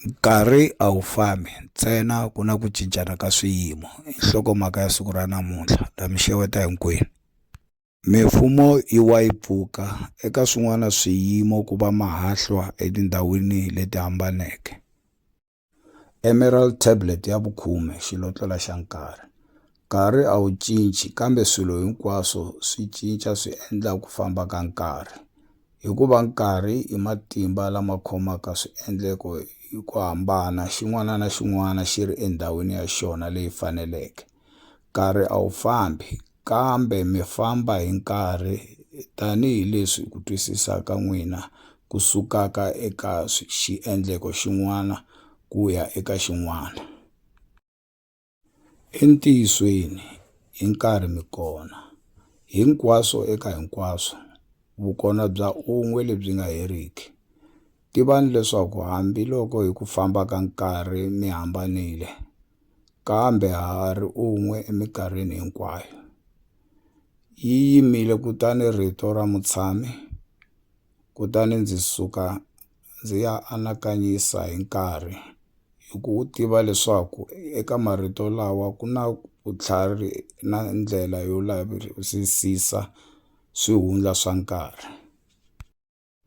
Nkarhi a wu fambi ntsena ku na ku cincana ka swiyimo i nhlokomhaka ya siku ra namuntlha la mi xeweta hinkwenu mifumo yi wa yi pfuka eka swin'wana swiyimo ku va mahahlwa etindhawini leti hambaneke emerald tablet ya vukhume xilotlela xa nkarhi Nkarhi a wu cinci kambe swilo hinkwaswo swi cinca swi endla ku famba ka nkarhi. Hikuva nkarhi i matimba lama khomaka swiendleko hi ku hambana, xin'wana na xin'wana xi ri endhawini ya xona leyi faneleke. Nkarhi a wu fambi, kambe mi famba hi nkarhi tanihi leswi ku twisisa ka n'wina ku sukaka eka xiendleko xin'wana ku ya eka xin'wana. Entiyisweni, hi nkarhi mi kona, hinkwaswo eka hinkwaswo, vukona bya un'we lebyi nga heriki. Tivani leswaku hambi loko hi ku famba ka nkarhi mi hambanile, kambe ha ha ri un'we eminkarhini hinkwayo. Yi yimile kutani Rito ra Mutshami, kutani ndzi suka ndzi ya anakanyisa hi nkarhi hi ku wu tiva leswaku eka marito lawa ku na vutlhari na ndlela yo lavisisisa swihundla swa nkarhi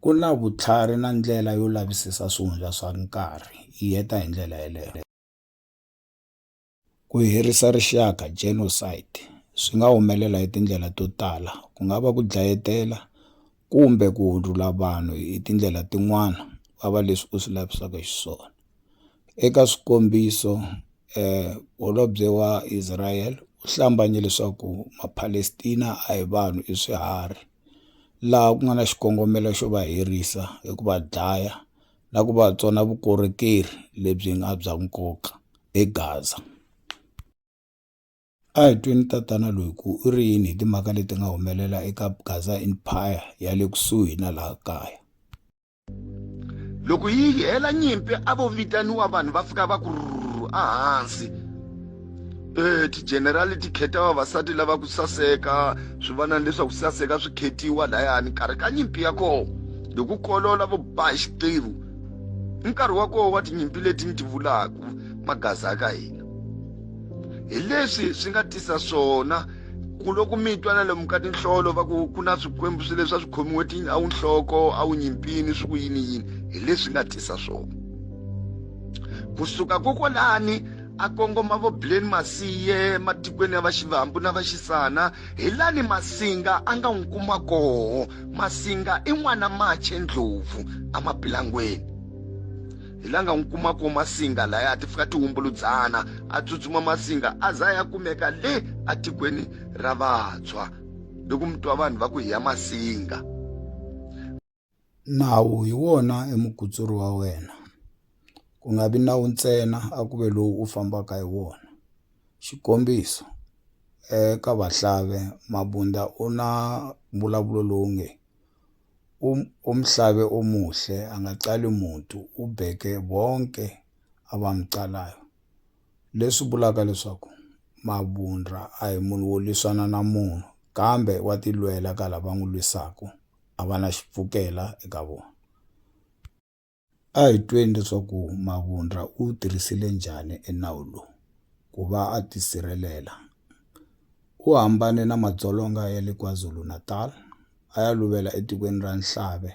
ku na vutlhari na ndlela yo lavisisa swihundla swa nkarhi yi heta hi ndlela yeleyo. Ku herisa rixaka, genocide, swi nga humelela hi tindlela to tala, ku nga va ku dlayetela kumbe ku hundzula vanhu hi tindlela tin'wana va va leswi u swi lavisaka xiswona. Eka swikombiso holobye wa Israel u hlambanye leswaku maPalestina a hi vanhu i swiharhi laha ku nga na xikongomelo xo va herisa hi ku va dlaya. na ku va tsona vukorhokeri lebyi nga bya nkoka eGaza. A hi tweni tatana loyi ku u ri yini hi timhaka leti nga humelela eka Gaza Empire ya le kusuhi na laha kaya. Loko yi hela nyimpi a vo vitaniwa vanhu va fika va ku rhurhu ehansi. e tigenerali ti kheta vavasati lava ku saseka swi va na leswaku saseka swi khetiwa layani nkarhi ka nyimpi ya kona hi ku kolola vo ba hi xiqivu i nkarhi wa kona wa tinyimpi leti ni ti vulaka magaza ya ka hina hi leswi swi nga tisa swona ku loko mi twa na lomu ka tinhlolo va ku ku na swikwembu swi leswi a swi khomiwe ti a wu nhloko a wu nyimpini swi ku yini yini hi leswi nga tisa swona kusuka kokwalani a kongoma vo bleni masiye matikweni ya vaxivambu na vaxisana hi lani masinga a nga n'wi kuma koho masinga i n'wana mache ndlopfu emapilangweni hi la nga n'wi kuma koho masinga laya ti fika tihumbuludzana a tsutsuma masinga a za ya kumeka le etikweni ra vantshwa loko mi twa vanhu va ku hi ya masinga Nawu hi wona e mukutsuri wa wena, ku nga vi nawu ntsena a ku ve lowu u fambaka hi wona. Xikombiso, eka vahlave Mabunda u na mbulavulo lowu nge, U u muhlave o muhle a nga cali mutu, u beke vonke a va mu calayo. Leswi vulaka leswaku Mabunda a hi munhu wo lwisana na munhu kambe wa tilwela ka lava n'wi lwisaka. a va na xipfukela eka vona. A hi tweni leswaku Mavundla u wu tirhisile njhani enawu lowu ku va a tisirhelela. U hambane na madzolonga ya le KwaZulu-Natal a ya luvela etikweni ra Nhlave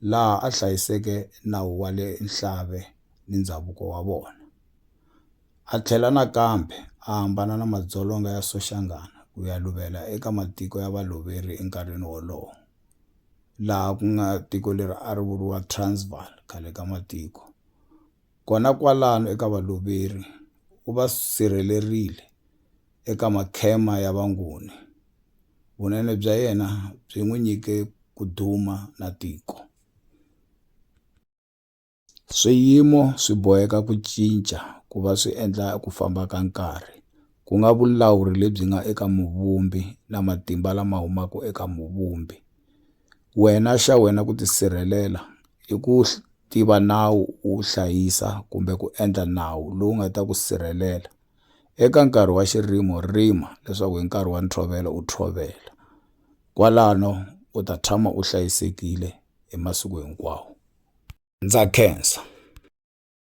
laha a hlayiseke nawu wa le Nhlave ni ndzhavuko wa vona. A tlhela nakambe a hambana na madzolonga ya Soshangana ku ya luvela eka matiko ya Valoveri enkarhini wolowo, laha ku nga tiko leri a ri vuriwa Transvaal khale ka matiko. Kona kwalano eka Valoveri u va sirhelerile eka makhema ya Vanguni. Vunene bya yena byi n'wi nyike ku duma na tiko. Swiyimo swi boheka ku cinca ku va swi endla ku famba ka nkarhi, ku nga vulawuri lebyi nga eka Muvumbi na matimba lama humaka eka Muvumbi. Wena xa wena ku tisirhelela i ku tiva nawu, u wu hlayisa kumbe ku endla nawu lowu nga ta ku sirhelela. Eka nkarhi wa xirimo rima leswaku hi nkarhi wa ntshovelo u tshovela. Kwalano u ta tshama u hlayisekile. hi masiku hinkwawo. Ndza khensa.